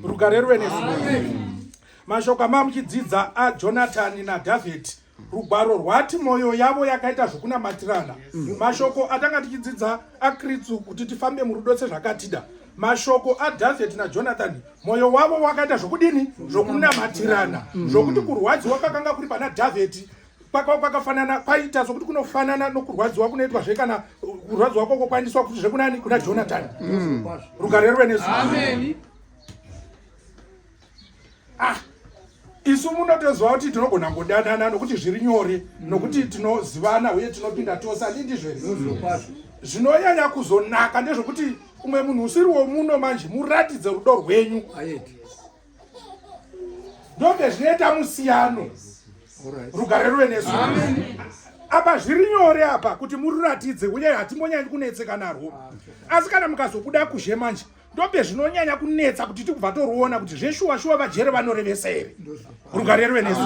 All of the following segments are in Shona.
rugare ruve nesu mashoko amaa muchidzidza ajonatani nadhavhidhi rugwaro rwati mwoyo yavo yakaita zvokunamatirana mm. mashoko atanga tichidzidza akritsu kuti tifambe murudo sezvakatida mashoko adhavheti najonathani mwoyo wavo wakaita zvokudini zvokunamatirana mm. zvokuti kurwadziwa kakanga kuri pana dhavheti kwakafanana kwaita sokuti kunofanana nokurwadziwa kunoitwa zve kana uh, kurwadziwa kwako kwaendiswa kuti zvekunani kuna jonatani mm. rugare ruve nesu ah, isu munotoziva kuti tinogona kudanana nokuti zviri nyore nokuti tinozivana uye tinopinda tose andi ndizvo here zvinonyanya kuzonaka ndezvokuti umwe munhu usiri womuno manje muratidze rudo rwenyu ndonge zvinoita musiyano rugare ruve nesu apa zviri nyore apa kuti mururatidze uye hatimbonyanyi kunetseka narwo asi kana mukazobuda kuzhe manje ndope zvinonyanya kunetsa kuti tikubva toruona kuti zveshuwa shuwa vajere vanorevesa here rugare ruve nesu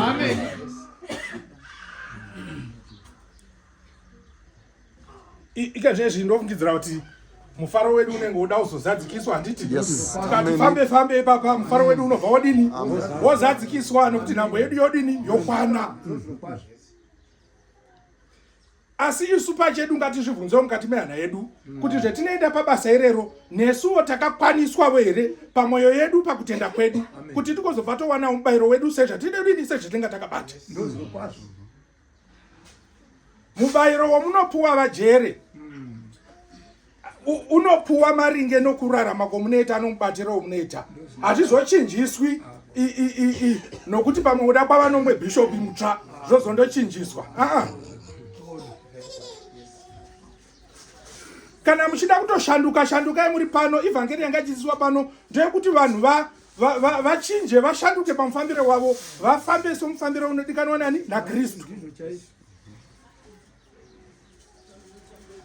ikazvezvi ndofungidzira kuti mufaro wedu unenge woda kuzozadzikiswa handiti tikati fambe fambe ipapa mufaro wedu unobva wodini wozadzikiswa nekuti nhambo yedu yodini yokwana asi isu pachedu ngatizvibvunzewo mukati mehana yedu kuti zvetinoenda pabasa irero nesuwo takakwaniswavo here pamwoyo yedu pakutenda kwedu kuti tikozobva towanawo mubayiro wedu sezvatidedini sezvatinga takabata mubayiro wamunopuwa vajere unopuwa maringe nokurarama kwomunoita anomubatira womunoita hazvizochinjiswi nokuti pamwe kuda kwavanomwe bhishopi mutsva zvozondochinjiswa aa kana muchida kutoshanduka shandukai muri pano ivhangeri yanga ichidzidziswa pano ndeyekuti vanhu va vachinje va, va vashanduke pamufambiro wavo vafambe somufambiro unodikanwa nani nakristu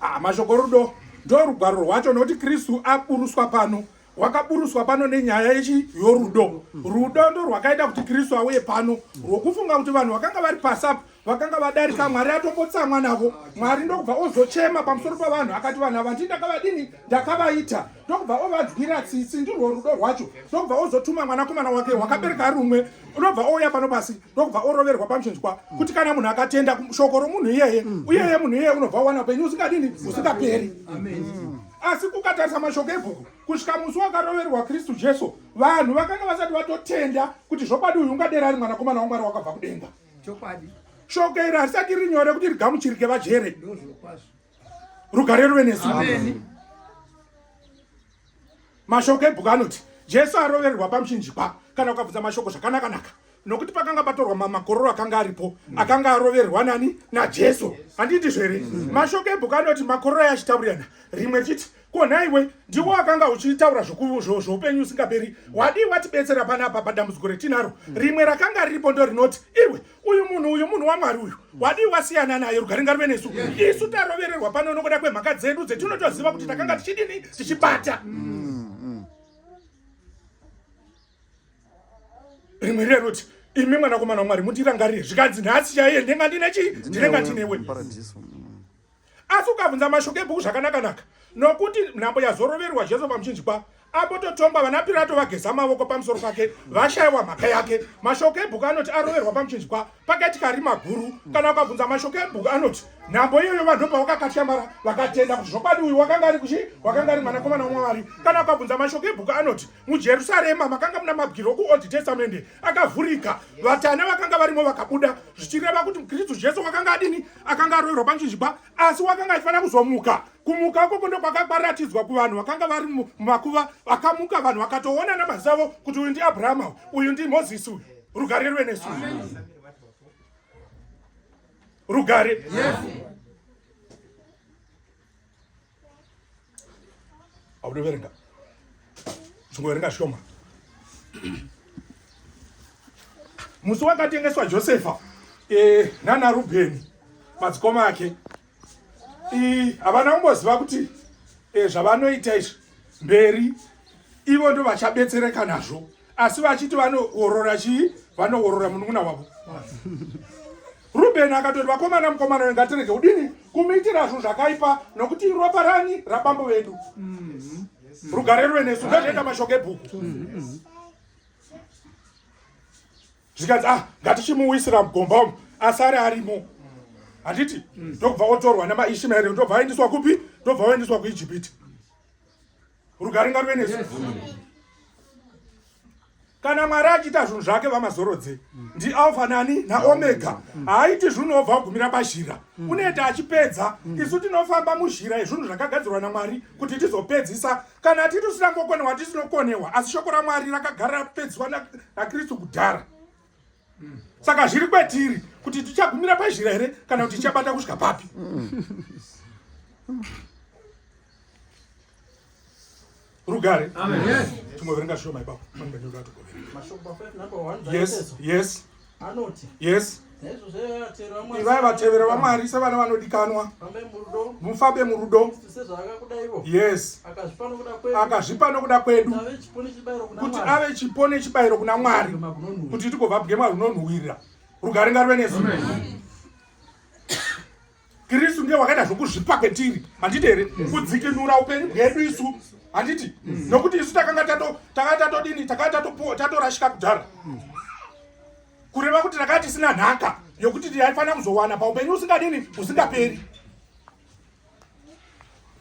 ah, mashoko rudo ndo rugwaro rwacho nokuti kristu aburuswa pano wakaburuswa pano nenyaya yechi yorudo rudo ndo rwakaita kuti kristu auye pano rwokufunga kuti vanhu vakanga vari pasapo vakanga vadarika mwari atopotsamwa navo mwari ndokubva ozochema pamusoro pavanhu akati vanhu ava ndindakavadini ndakavaita ndokubva ovadzwira tsitsi ndirwo rudo rwacho ndokubva ozotuma mwanakomana wake wakabereka ari umwe unobva ouya pano pasi ndokubva oroverwa pamuchinzwa kuti kana munhu akatenda shoko romunhu iyeye uyeye munhu iyeye unobva uwana upenyu usingadini usingaperi Amen. asi kukatarisa mashoko ebhuku kusvika musi wakaroverwa kristu jesu vanhu vakanga vasati vatotenda kuti zvokwadi uyu ungadera ari mwanakomana wamwari wakabva kudenga chokwadi shoko iri harisati ri nyore kuti rigamuchirike vajere rugare ruve nesu mashoko ebhuku anoti jesu arovererwa pamuchinjikwa kana ukabvudza mashoko zvakanakanaka nokuti pakanga patorwa mamakororo akanga aripo mm. akanga aroverwa nani najesu handiti zvere mm. mashoko ebhuku anoti makororo ayo achitaurirana rimwe chiti ko nhaiwe ndiwo akanga uchitaura zvoupenyu usingaperi wadii watibetsera panapa padambudziko retinaro mm. rimwe rakanga riripo ndo rinoti iwe uyu munhu uyu munhu wamwari uyu wadii wasiyana naye rugari ngaruve nesu isu tarovererwa pano nokuda kwemhaka dzedu dzetinotoziva kuti takanga tichidini tichibata rimwe riya rinoti imi mwanakomana wamwari mundirangarire zvikanzi nhasi chaiye ndinenge ndine chii ndinenge ndinewe asi ukabvunza mashoko ebhuku zvakanakanaka nokuti nhambo yazoroverwa jesu pamuchinjikwa apo totongwa vana pirato vageza mavoko pamusoro pake vashayiwa mhaka yake mashoko ebhuku anoti aroverwa pamuchinjikwa pakaitika rima guru kana ukabvunza mashoko ebhuku anoti nhambo iyoyo vanhu pavakakatyamara vakatenda kuti zvokwadi uyu wakanga ari kuchi wakanga ari mwanakomana wamwari kana ukabvunza mashoko ebhuku anoti mujerusarema makanga muna mabwiro okuold testamente akavhurika vatana vakanga varimo vakabuda zvichireva kuti mukristu jesu wakanga adini akanga aroverwa panchinjikwa asi wakanga aifanira kuzomuka kumuka ukoko ndokwakabaratidzwa kuvanhu vakanga vari mumakuva vakamuka vanhu vakatoona namaziso avo kuti uyu ndiabrahama uyu ndimozisi uyu rugare rwe nesu rugare yes. autoverenga chingoverenga shoma musi wakatengeswa josefa e, nana rubheni madzikoma ake havana kumboziva kuti e, zvavanoita izvi mberi ivo ndo vachabetsereka nazvo asi vachiti vanoorora chii vanoorora munun'una wavo rubheni akatoti vakomana mukomana wengatirege kudini kumuitira zvinhu zvakaipa nokuti ropa rani rabambo vedu mm-hmm. rugare ruve nesu ndozvaita mashoko ebhuku mm-hmm. zvikanzi ah ngatichimuwisira mugomba umu asare arimo handiti mm. ndokubva otorwa nemaishimaeri ndobva aendiswa kupi ndobva oendiswa kuijipiti rugare ngaruve nesu kana mwari achiita zvinhu zvake vamazorodze ndialfa nani naomega haaiti zvinhu obva kugumira pazhira unoita achipedza isu tinofamba muzhira yezvinhu zvakagadzirwa namwari kuti tizopedzisa kana titi usina ngokonewa tisinokonewa asi shoko ramwari rakagara rapedziswa nakristu kudhara saka zviri kwatiri kuti tichagumira pazhira here kana kuti tichabata kusvika papi rugare timoverenga shoma ipapo yes yes anoti yes ivai vatevera vamwari sevana vanodikanwa mufambe murudo yes akazvipa nokuda kwedu kuti ave chipo nechibayiro kuna mwari kuti tigova bwema runonhuwirira rugare ngarive nesu kristu ndiye wakaita zvokuzvipa kwetiri handiti here kudzikinura upenyu bwedu isu handiti mm. nokuti isu takanga takanga tatodini takanga tatorashika kudhara mm. kureva kuti takanga tisina nhaka yokuti taifanira kuzowana paupenyu usingadini usingaperi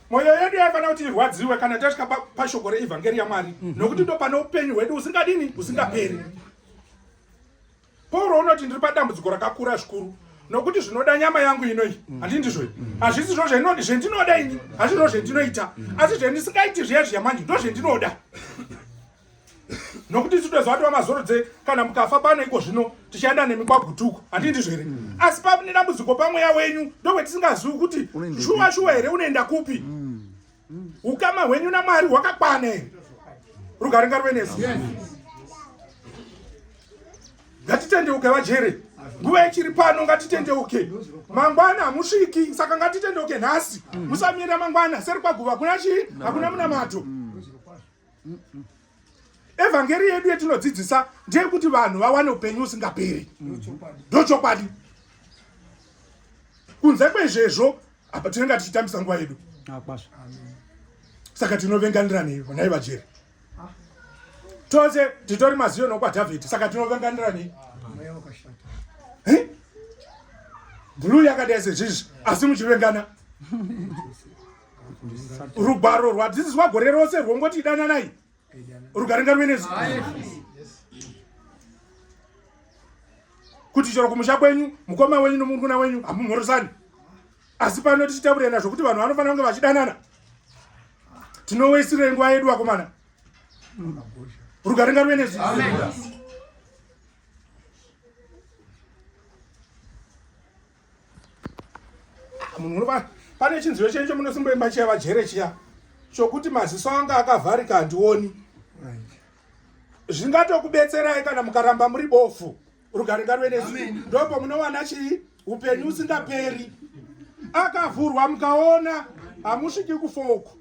mwoyo yedu yaifanira kuti irwadziwe kana tasvika pashoko reevhangeri yamwari mhm. nokuti ndo pane upenyu hwedu usingadini usingaperi pauro unoti ndiri padambudziko rakakura zvikuru nokuti zvinoda nyama yangu inoi handi ndizvo hazvisi zvo zvendinoda ini hazvizvo zvendinoita asi zvendisingaiti zviya zviya manje ndo zvendinoda nokuti isu toziva kuti vamazorodze kana mukafa pano iko zvino tichaenda nemi kwagutuko handii ndizvo here mm. asi pane dambudziko pamweya wenyu ndokuti tisingazivi kuti shuwa shuwa here unoenda kupi mm. Mm. ukama hwenyu namwari hwakakwana here rugare ngaruve nesu ngatitendeuke vajere nguva ichiri pano ngatitendeuke mangwana hamusviki saka ngatitendeuke nhasi musamira mangwana seri kwaguva hakuna chii hakuna munamato evhangeri yedu yetinodzidzisa ndeyekuti vanhu vawane upenyu usingaperi ndochokwadi mm -hmm kunze kwezvezvo apa tinenge tichitambisa nguva yedu ah, saka tinovenganiranei vonai vajeri ah. tose titori maziyo nokwadhavhidhi saka tinovenganiranei bhuluu yakadai sezvizvi asi muchivengana rugwaro rwadzidziswa gore rose rwongoti idananai rugaringa ruvenesu kuti chero kumusha kwenyu mukoma wenyu nomurukuna wenyu hamumhorosani asi pano tichitaurira nazvo kuti vanhu vanofanira kunge vachidanana tinoweisirei nguva yedu vakomana rugaringa ruvenesu munhu unoba pane chinziyo chenyu chomunosimboimba chiya vajere chiya chokuti maziso anga akavharika handioni zvingatokubetserai kana mukaramba muri bofu rugare ngarwe nesu ndopo munowana chii upenyu usingaperi akavhurwa mukaona hamusviki kufouku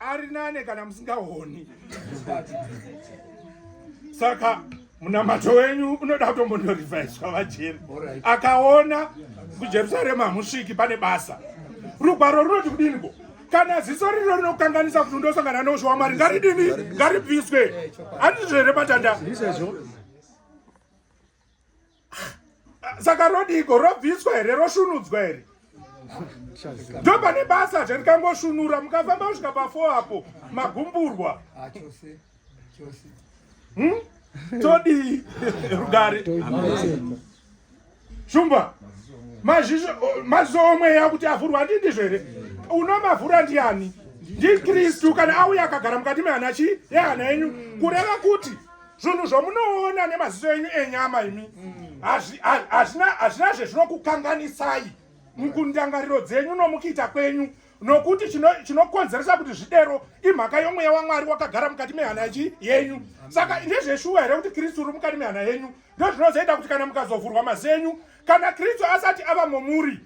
ari nane kana musingaoni saka munamato wenyu unoda kutombondorivaiswa vajeri akaona kujerusarema hamusviki pane basa rugwaro runoti kudiniko kana ziso rino rinokanganisa kuti ndosangana neusho wamwari ngaridini ngaribviswe andizvo here patanda saka rodiiko robviswa here rosvunudzwa here ndo pane basa zve rikangosvunura mukafamba kusvika pafo apo magumburwa ah, hmm? todii rugare shumba maziso omweya kuti avhurwa ndi ndizvo here unomavhura ndiani ndikristu kana auya akagara mukati mehana chii yehana yenyu kureva kuti zvinhu zvomunoona nemaziso enyu enyama imi mm. hazvina zvezvinokukanganisai mukundangariro dzenyu nomukuita kwenyu nokuti chinokonzeresa kuti zvidero imhaka yomweya wamwari wakagara mukati mehana chi yenyu saka ndezveshuwa here kuti kristu uri mukati mehana yenyu ndo zvinozoita kuti kana mukazovhurwa mazenyu kana kristu asati ava momuri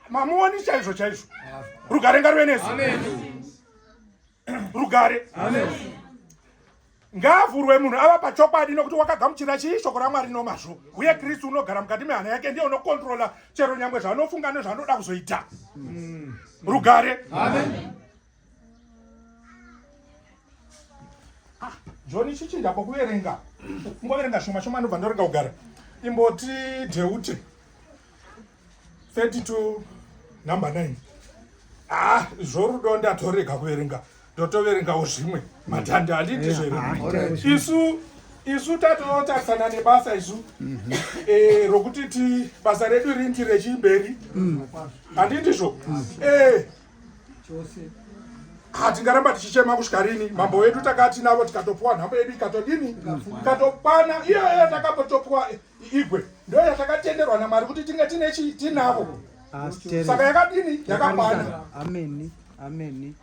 mamuoni chaizvo chaizvo rugarenga ruve nesu rugare ngaavhurwe munhu ava pachokwadi nokuti wakagamuchira chii shoko ramwari nomazvo uye kristu unogara mukati mehana yake ndiye unokontrola chero nyangwe zvaanofunga nezvaanoda kuzoita mm. rugare Amen. joni chichinda pokuverenga ungoverenga shoma shoma anobva ndorenga kugara imboti deute 30 to number 9 ah zvorudo ndatorega kuverenga ndotoverengawo zvimwe matanda handiti zvere isu isu tatotarisana nebasa isu mhm. eh, rokuti ti basa redu rinti rechimberi mm. handitizvo mm. eh, hatingaramba tichichema kusvika rini mambo wedu takati navo tikatopuwa nhambo yedu ikatodini ikatokwana iyoyo takapotopuwa igwe ndo yatakatenderwa namwari kuti tinge tine chii tinavo saka yakadini yakakwana ameni ameni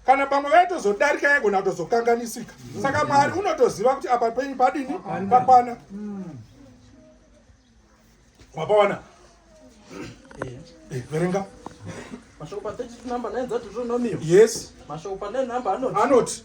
kana pamwe vaitozodarika yaigona kutozokanganisika saka mwari unotoziva kuti apa penyu padini pakwana wapawana eh. eh, verenga mashoko pa 32 number 9 dzadotonomiyo yes mashoko pa 9 number anoti anoti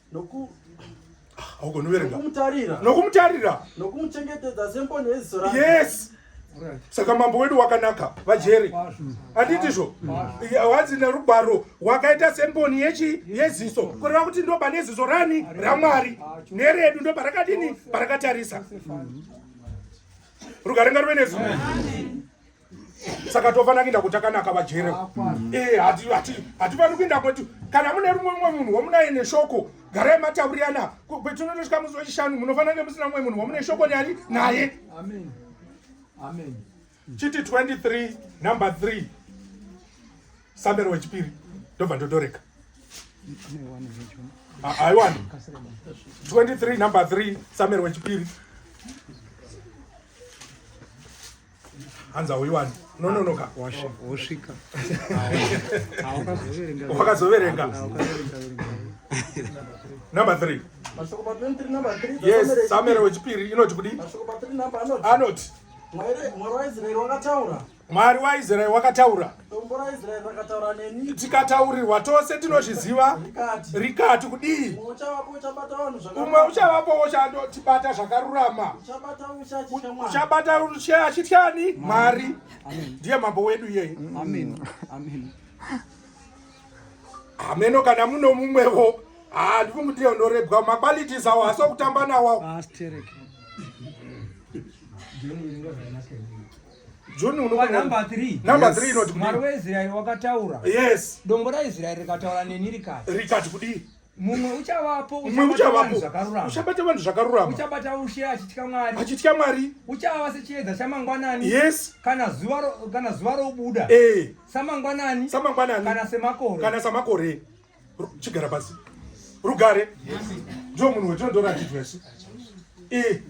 nokumutarira nokumuchengetedza semboni yeziso rake yes saka mambo wedu wakanaka vajeri handitizvo hanzi nerugwaro wakaita semboni yechi yeziso kureva kuti ndoba neziso rani ramwari neredu ndoba rakadini parakatarisa rugaringa ruve nezimwe saka tofana kuinda kuti akanaka vajere mm. eh, hatipani kuinda kuti kana mune rumwe mumwe munhu wamunaye neshoko garai mataurirana kwetinonosvika musi wechishanu munofanira kunge musina mumwe munhu wamune shoko nyari naye chiti 23 number 3 sambero wechipiri ndobva ndodoreka aiwani 23 number 3 sambero wechipiri hanzi hauiwani nononoka wosvika wakazoverenga number three yes samere wechipiri inoti kudi anoti mwari waisraeri wakataura Dombo raIsraeri rakataura neni. Tikataurirwa tose tinozviziva. Rikati. Rikati kudii? Umwe uchavapo uchabata vanhu zvakarurama. Umwe uchavapo uchatibata zvakarurama. Uchabata ushe achitya Mwari. Uchabata ushe achitya ani? Mwari. Ndiye mambo wedu iyeye. Amen. Amen. Ameno kana muno mumwevo. Ah, ndifunga kuti unorebwa maqualities awo hasi okutamba nawo. Astereke. John unopa number 3. Number 3 inoti mwari weIsrael wakataura. Yes. Dongo raIsrael rikataura neni rikati. Rikati kudii? mumwe uchavapo uchabata vanhu zvakarurama uchabata vanhu zvakarurama uchabata ushe achitya mwari achitya mwari uchava sechiedza chamangwanani yes kana zuva kana zuva robuda eh samangwanani samangwanani kana semakore kana samakore chigara pasi rugare ndio munhu wetondora chitwesi eh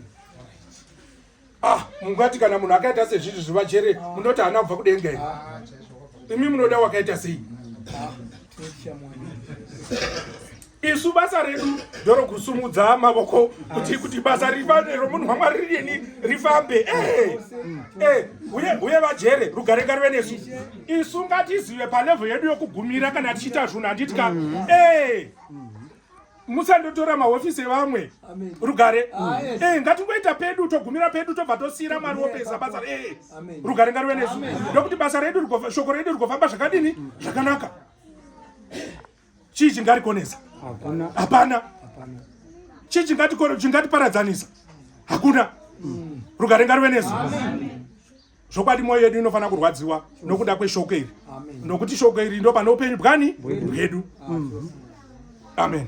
ah mungati kana munhu akaita sezvizvi zvivachere ah. munoti haana kubva kudenga here ah, imi munoda wakaita sei ah, isu basa redu ndoro kusumudza mavoko kuti kuti basa romunhu wamwari ririni rifambe eh, eh, uye uye vajere rugare ngarive nesu isu ngatizive palevel yedu yokugumira kana tichiita zvunhu handiti ka mm-hmm. eh. musandotora mahofisi evamwe rugare ah, eh, ngatingoita pedu togumira pedu tobva tosiyira mwari wopesa basa eh, rugare ngarive nesu ndokuti basa redu shoko redu rigofamba zvakadini zvakanaka chii chingarikonesa hapana chii chingatiparadzanisa hakuna mm. rugare ngarive nesu zvokwadi mwoyo yedu inofanira kurwadziwa nokuda kweshoko iri nokuti shoko iri ndo pane upenyu bwani bwedu amen, amen.